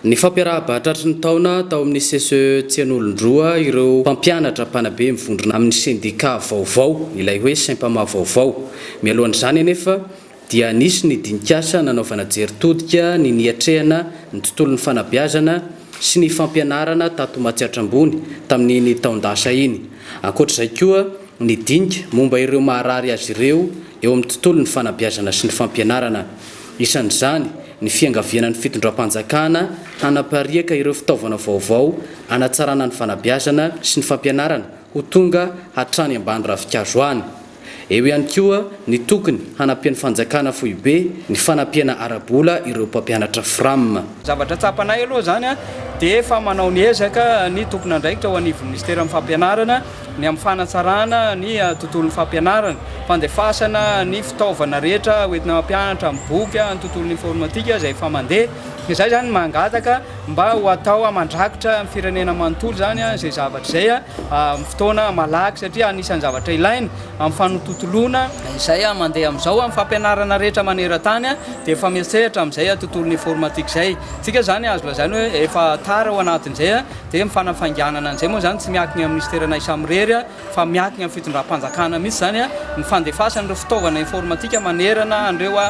Ny fampiarahabahatratry ny taona tao amin'ny CCE Tsian'olondroa ireo mpampianatra mpanabe mivondrona amin'ny sendikà vaovao, ilay hoe Sempama vaovao. Mialohan'izany anefa dia nisy ny dinik'asa nanaovana jery todika ny niatrehana ny tontolon'ny fanabeazana sy ny fampianarana tato Matsiatra Ambony tamin'iny taon-dasa iny. Ankoatr'izay koa ny dinika momba ireo maharary azy ireo eo amin'ny tontolon'ny fanabeazana sy ny fampianarana. isan'izany ny fiangaviana ny fitondram-panjakana hanapariaka ireo fitaovana vaovao hanatsarana ny fanabeazana sy ny fampianarana ho tonga hatrany ambany ravinkazo any. Eo ihany koa ny tokony hanampian'ny fanjakana foibe ny fanampiana ara-bola ireo mpampianatra Fram. Zavatra tsapanay aloha izany dia efa manao ny ezaka ny tompon'andraikitra ao anivon'ny minisiteran'ny fampianarana ny amin'ny fanatsarana ny tontolon'ny fampianarana, fandefasana ny fitaovana rehetra hoentina mampianatra, ny boky, ny tontolon'ny informatika izay efa mandeha, izay izany no mangataka mba ho atao mandrakitra ny firenena manontolo izany izay zavatra izay amin'ny fotoana malaky satria anisan'ny zavatra ilaina amin'ny fanotontoloana izay mandeha amin'izao amin'ny fampianarana rehetra maneran-tany dia efa miantsehatra amin'izay tontolon'ny informatika izay, tsika izany azo lazaina hoe efa tara ao anatin'izay. Dia ny fanafainganana an'izay moa izany tsy miankina eo amin'ny Minisitera anay samirery fa miankina amin'ny fitondram-panjakana mihitsy izany ny fandefasana ireo fitaovana informatika manerana an'ireo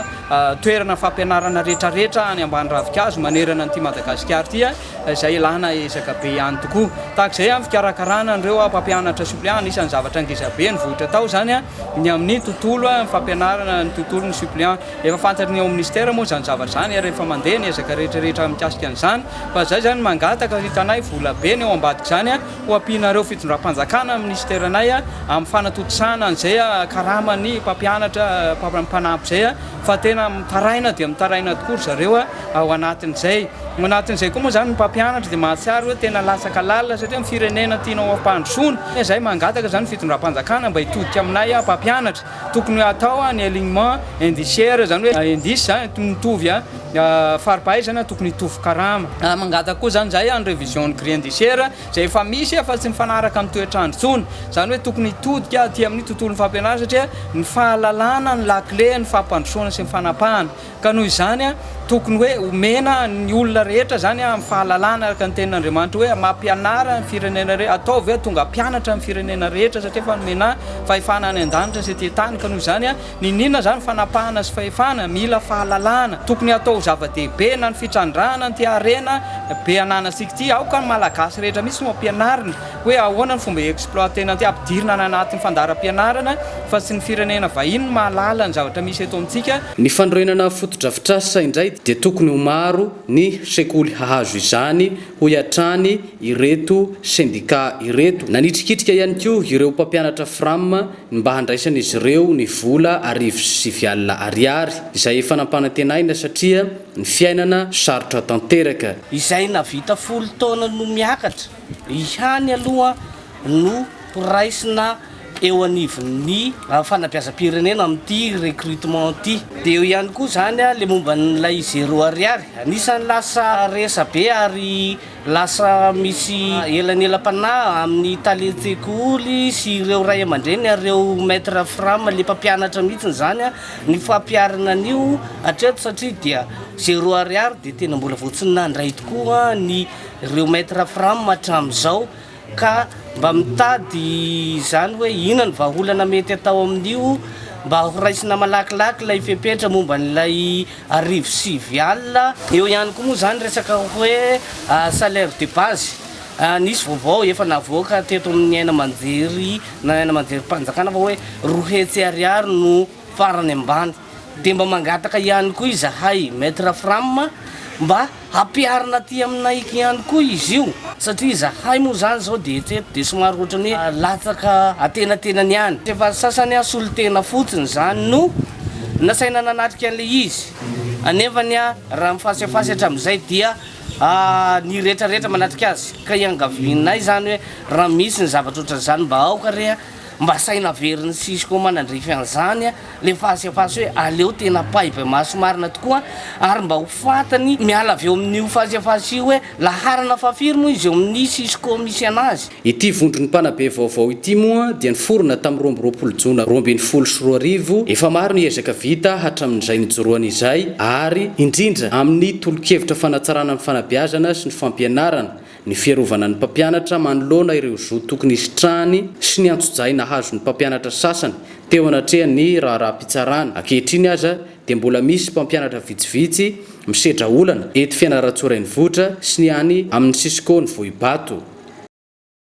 toerana fampianarana rehetrarehetra any ambany ravinkazo manerana an'ity Madagasikara ity izay ilàna ezaka be ihany tokoa. Tahaka izay amin'ny fikarakarana an'ireo mpampianatra suppléant, anisan'ny zavatra ngeza be nivoitra tao izany ny amin'ny tontolo fampianarana ny tontolon'ny suppléant. Efa fantatry ny ao amin'ny Minisitera moa izany zavatra izany ary efa mandeha ny ezaka rehetrarehetra mikasika an'izany. Fa izay izany mangataka hitanay vola be ny eo ambadik'izany ho ampianareo fitondram-panjakana amin'ny minisiteranay amin'ny fanatontosana an'izay karaman'ny mpampianatra mpanampy izay fa tena mitaraina dia mitaraina tokoa ry zareo ao anatin'izay. Ao anatin'izay koa moa izany ny mpampianatra dia mahatsiaro hoe tena latsaka lalina satria ny firenena tianao hampandrosoana. Izay mangataka izany ny fitondram-panjakana mba hitodika aminay mpampianatra. Tokony hatao ny alignement indiciaire, izany hoe indice toy ny mitovy fari-pahaizana, tokony hitovy karama. Mangataka koa izany izahay ny révision-n'ny grille indiciaire izay efa misy fa tsy mifanaraka amin'ny toetr'andro intsony. Izany hoe tokony hitodika aty amin'ny tontolon'ny fampianarana satria ny fahalalana no lakile ny fampandrosoana sy ny fanapahana. Ka noho izany, tokony hoe omena ny olona rehetra izany amin'ny fahalalana araka ny tenin'Andriamanitra hoe mampianara ny firenena rehetra, ataovy hoe tonga mpianatra ny firenena rehetra satria efa nomena fahefana any an-danitra sy ety an-tany. Ka noho izany, niniana izany fanapahana sy fahefana? Mila fahalalana. Tokony hatao ho zava-dehibe na ny fitrandrahana an'ity harena be ananantsika ity. Aoka ny Malagasy rehetra mihitsy no ampianarina. hoe ahoana ny fomba exploiter-na ty ampidirina any anatin'ny fandaharam-pianarana fa tsy ny firenena vahiny no mahalala ny zavatra misy eto amintsika. Ny fanorenana fotodrafitrasa indray dia tokony ho maro ny sekoly hahazo izany, hoy hatrany ireto sendika ireto. Nanitrikitrika ihany koa ireo mpampianatra Fram ny mba handraisan'izy ireo ny vola arivo sy sivy alina ariary, izay efa nampanantenaina satria ny fiainana sarotra tanteraka. Izay navita folo taona no miakatra. ihany aloha no horaisina eo anivon'ny fanabeazam-pirenena amin'ity recrutement ity. Dia eo ihany koa izany ilay momba an'ilay zéro ariary. Anisan'ny lasa resabe ary lasa misy elanelam-panahy amin'ny talen-tsekoly sy ireo ray aman-dreny ary ireo maître fram, ilay mpampianatra mihitsy izany, ny fampiharana an'io hatreto satria dia zéro ariary dia tena mbola vao tsy nandray tokoa ny. ireo maitre fram hatramin'izao ka mba mitady izany hoe inona ny vahaolana mety atao amin'io mba horaisina malakilaky ilay fepetra momba an'ilay arivo sivy alina. Eo ihany koa moa izany resaka hoe ah, salaire de base. Ah, nisy vaovao efa navoaka teto amin'ny aina aman-jery na aina aman-jerim-panjakana fa hoe roa hetsy ariary no farany ambany. Dia mba mangataka ihany koa izahay Maître Fram mba hampiharina aty aminay ihany koa izy io satria izahay moa izany izao dia hatreto dia somary ohatran'ny hoe latsaka antenatenany ihany. Efa sasany aho solontena fotsiny izany no nasaina nanatrika an'ilay izy anefany raha ny fasefasy hatramin'izay dia niretraretra manatrika azy ka iangavianay izany hoe raha misy ny zavatra ohatran'izany mba aoka re Mba saina averin'i Cisco manandrify an'izany a, le face à face hoe aleo tena paiva maso marina tokoa ary mba ho fantany miala avy eo amin'io face à face io hoe laharana fahafiry moa izy eo amin'ny Cisco misy anazy. Ity vondron'ny mpanabe vaovao ity moa dia niforona tamin'ny roa amby roapolo jona roa ambin'ny folo sy roa arivo, efa maro ny ezaka vita hatramin'izay nijoroany izay ary indrindra amin'ny tolokevitra fanatsarana ny fanabeazana sy ny fampianarana, ny fiarovana ny mpampianatra manoloana ireo zo tokony hisitrahany sy ny antsojay nahazo ny mpampianatra sasany teo anatrehan'ny raharaham-pitsarana. Ankehitriny aza dia mbola misy mpampianatra vitsivitsy misedra olana eto Fianarantsoa Renivohitra sy ny any amin'ny Cisco ny Vohibato.